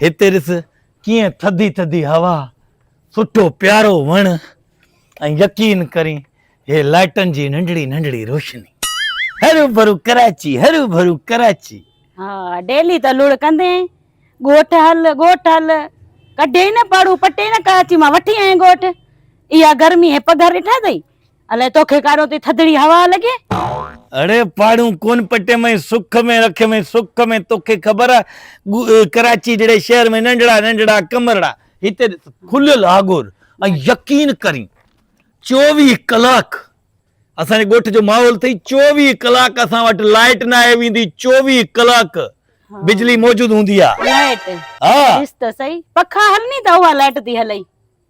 هتي ڏس ڪيئن ٿڌي ٿڌي هوا، سٺو پيارو وڻ ۽ يقين ڪرين هي لائٽن جي ننڍڙي ننڍڙي روشني. هروڀرو ڪراچي، هروڀرو ڪراچي. ها ڊيلي ته لڙ ڪندين ڳوٺ هل ڳوٺ هل ڪڍيئي نه پاڙون پٽي نه ڪراچي مان وٺي آئين ڳوٺ اها گرمي هي پگهر ڏٺا اٿئي. الائي توکي ڪارو تي ٿڌڙي هوا لڳي. اڙي پاڙون ڪون پٽي مئي سک ۾ رکي مئي سک ۾ توکي خبر آ ڪراچي جهڙي شهر ۾ ننڍڙا ننڍڙا ڪمرڙا هتي کليل آگور ۽ يقين ڪرين چوويهه ڪلاڪ اسان جي ڳوٺ جو ماحول ٿئي چوويهه ڪلاڪ اسان وٽ لائيٽ نه آئي ويندي چوويهه ڪلاڪ بجلي موجود هوندي آ لائيٽ ڏس ته سهي پکا هلني ته اها لائيٽ ٿي هلئي.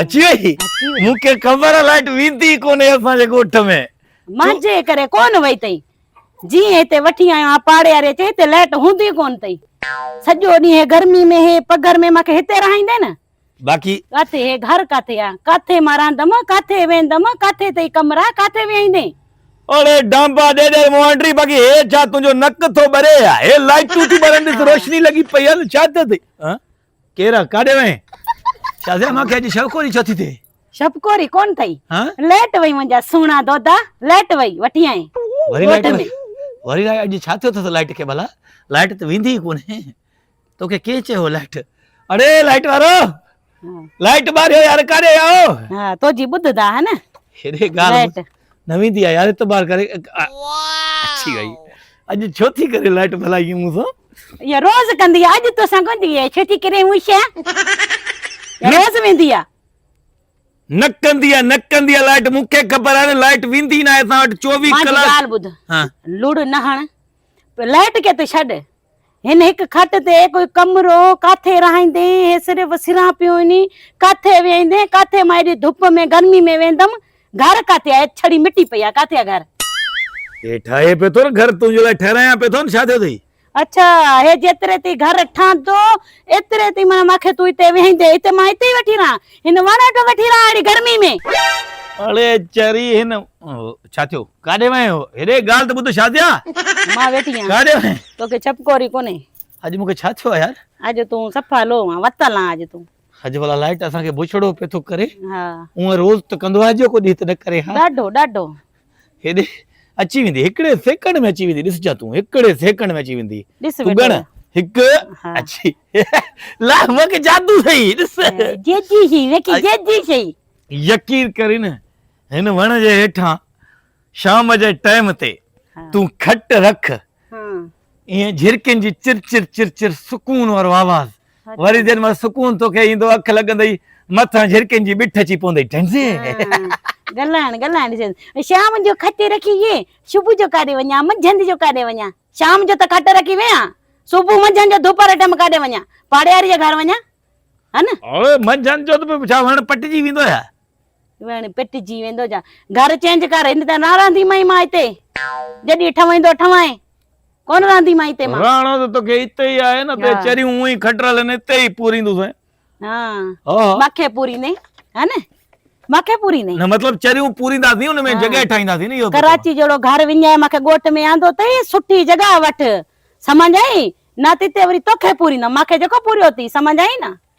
اچي وئي مون کي خبر آ لائٽ ويندي ڪونهي اسان جي ڳوٺ ۾ مانجي ڪري ڪون وئي تئي جي هتي وٺي آيو آ پاڙي واري چي هتي لائٽ هوندي ڪون تئي سڄو ڏينهن هي گرمي ۾ هي پگهر ۾ ماکي هتي رهائيندي نه باقي ڪاٿي هي گهر ڪاٿي آ ڪاٿي مان رهندم ڪاٿي ويندم ڪاٿي تئي ڪمرا ڪاٿي ويهيندي اڙي ڊانبا ڏي ڏي موانڊري باقي هي ڇا تنهنجو نڪ ٿو ٻري يا هي لائٽون ٿي ٻرن ڏس روشني لڳي پئي آ ته ڇا ٿيو ٿي ڪير آ ڪاڏي وئين شازيا مانکي اڄ شبڪوري ڇو ٿي ٿئي شبڪوري ڪون ٿئي ليٽ وئي منهنجا سهڻا دودا ليٽ وئي وٺي آئي وري لائٽ وئي وري لائٽ اڄ ڇا ٿيو اٿس لائٽ کي ڀلا لائٽ ته ويندي ئي ڪونهي توکي ڪنهن چيو لائٽ اڙي لائٽ وارو لائٽ ٻاريو يار ڪاڏي آئو ها تو جي ٻڌدا ها نه هيڏي ڳالهه نه ويندي آ يار اعتبار ڪري اچي وئي اڄ ڇو ٿي ڪري لائٽ ڀلائي مون سان يا روز ڪندي اڄ تو سان ڪندي اي ڇو ٿي ڪري مون شا روز ويندي آ نه ڪندي آ نه ڪندي آ لائٽ مون کي خبر آ لائٽ ويندي نه اسان وٽ 24 ڪلاڪ مان ڳالھ ٻڌ ها لڙ نه هڻ لائيٽ کي ته ڇڏ، هن هڪ کٽ تي ڪوئي ڪمرو ڪاٿي رهائيندين، هي صرف سران پيو وڃي، ڪاٿي ويهائيندين، ڪاٿي مان ايڏي ڌپ ۾ گرمي ۾ ويهندم، گهر ڪاٿي آهي، ڇڙي مٽي پئي آهي، ڪاٿي آهي گهر؟ هي ٺاهي پيو ٿو نه گهر، تنهنجي لاء ٺهرايان پيو ٿو نه، ڇا ٿيو اٿئي؟ اڇا، هي جيتري تائين گهر ٺهندو، ايتري تائين معنيٰ مان کي تون هتي ويهائيندين، هتي مان هتي ئي وٺي رهان؟ هن وڻ اٽو وٺي رهان اهڙي گرمي ۾. اڙي چري هن ڇا ٿيو ڪاڏي وئين هو هيڏي ڳالهه ته ٻڌ شازيا. مان ويٺي آهيان ڪاڏي وئين. توکي ڇپڪوري ڪونهي. اڄ مونکي ڇا ٿيو آهي يار. اڄ تون صفا لو آن وتل آن اڄ تون. اڄ ڀلا لائٽ اسان کي بڇڙو پيو ٿو ڪري. ها. هونء روز ته ڪندو آهي اڄ جو ڪو ڏينهن ته نه ڪري ها. ڏاڍو ڏاڍو. هيڏي اچي ويندي. هڪڙي سيڪنڊ ۾ اچي ويندي. ڏس جا تون هڪڙي سيڪنڊ ۾ اچي ويندي. ڏس تون ويٺو ڳڻ آهي. هڪ ها. اچي لا وڪ جادو سهي ڏس. جيجي سهي وڪي جيجي سهي. يقين ڪرين هن وڻ جي هيٺان شام جي ٽيم تي ها. تون کٽ رک ها. ائين جهرڪين جي چر چر چر چر سڪون وارو آواز. وري جن مان سڪون تو کي ايندو اک لڳندئي مٿان جھرڪين جي بٺ اچي پوندئي ٽنزي گلائڻ گلائڻ جي شام جو کٽي رکي يي صبح جو ڪاڏي وڃا منجھند جو ڪاڏي وڃا شام جو ته کٽ رکي ويا صبح منجھند جو دوپهر ٽيم ڪاڏي وڃا پاڙياري جي گھر وڃا ها نه اوئي منجھند جو ته ڇا وڻ پٽجي ويندو ڇا ويڻ پٽجي ويندو جا گهر چينج ڪر هن ته نه رهندي مئي مان هتي جڏي ٺويندو ٺوائين ڪون رهندي مان هتي مان رهڻو ته توکي هتي ئي آهي نه ته چريون اون ئي کٽرل آهن هتي ئي پوريندو سين ها مکي پوريندي ها نه مکي پوريندي نه مطلب چريون پورينداسين ان ۾ جڳهه ٺاهينداسين نه اهو ڪراچي جهڙو گهر وڃائي مکي ڳوٺ ۾ آندو اٿئي سٺي جڳهه وٺ سمجهه آئي نه تتي وري توکي پوريندم مکي جيڪو پوريو اٿي سمجهه آئي نه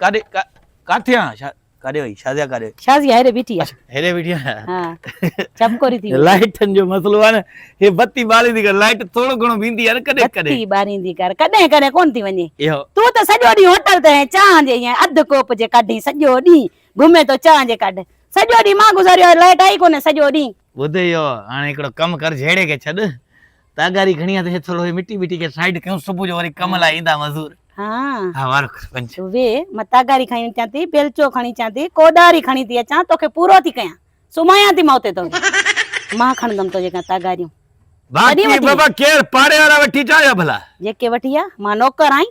ڪاڏي ڪاٿي آ شا ڪاڏي وئي شازيا ڪاڏي شازيا هيڏي بيٺي آ هيڏي بيٺي آ ها چمڪوري ٿي لائٽن جو مسئلو آ نه هي بتي ٻاريندي ڪر لائٽ ٿورو گھڻو ويندي آ نه ڪڏهن ڪڏهن بتي ٻاريندي ڪر ڪڏهن ڪڏهن ڪون ٿي وڃي تون ته سڄو ڏينهن هوٽل تي ۽ چانهه جي ائين اڌ ڪوپ جي ڪڍين سڄو ڏينهن گھمين تو چانهه جي ڪڍ سڄو ڏينهن مان گذاريو آ لائٽ آئي ڪونهي سڄو ڏينهن ٻڌ اهو هاڻي هڪڙو ڪم ڪر جهيڙي کي ڇڏ تاگاري کڻي اٿ هي ٿورو هي مٽي ٻٽي کي سائيڊ ڪيون صبح جو وري ڪم لاء ايندا مزور ها ها وارو کر پنج وي مان تاگاري کڻي اچان ٿي بيلچو کڻي اچان ٿي ڪوڏاري کڻي ٿي اچان توکي پورو ٿي ڪيان سمايان ٿي مان اتي تو مان کڻندم تو جيڪا تاگاريون باقي بابا ڪير پاڙي وارا وٺي چا يا ڀلا جيڪي وٺي يا مان نوڪر آهين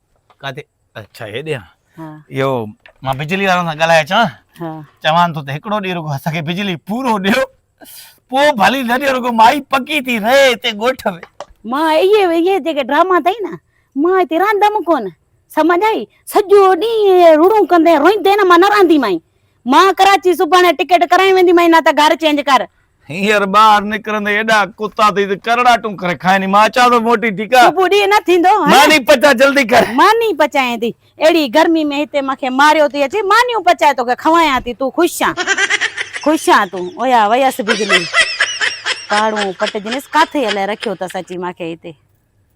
ڪاٿي اچھا هيڏي آ اهو مان بجلي وارن سان ڳالهائي اچان ها چوان ٿو ته هڪڙو ڏينهن رڳو اسان کي بجلي پورو ڏيو پوء ڀلي نه ڏيو رڳو مائي پڪي ٿي رهي هتي ڳوٺ ۾ مان اهي اهي جيڪي ڊراما اٿئي نه مان هتي رهندم ڪونه سمجھ آئي سڄو ڏينهن رڙون ڪندين روئيندين مان نه رهنديمائين مان ڪراچي سڀاڻي ٽڪيٽ ڪرائي وينديمائين نه ته گهر چينج ڪر هينئر ٻاهر نڪرندي ايڏا ڪتا ٿي ته ڪرڙاٽون ڪري کائني مان اچان ٿو موٽي ٺيڪ آ سڀ ڏينهن نه ٿيندو ها نه ماني پچاء جلدي ڪر ماني پچائين ٿي اهڙي گرمي ۾ هتي مان کي ماريو ٿي اچي مانيون پچائي توکي کوايان ٿي تون خوش آن خوش آن تون اويا ويس بجلي پاڙون پٽ جنس ڪاٿي الائي رکيو اٿس اچي مان کي هتي.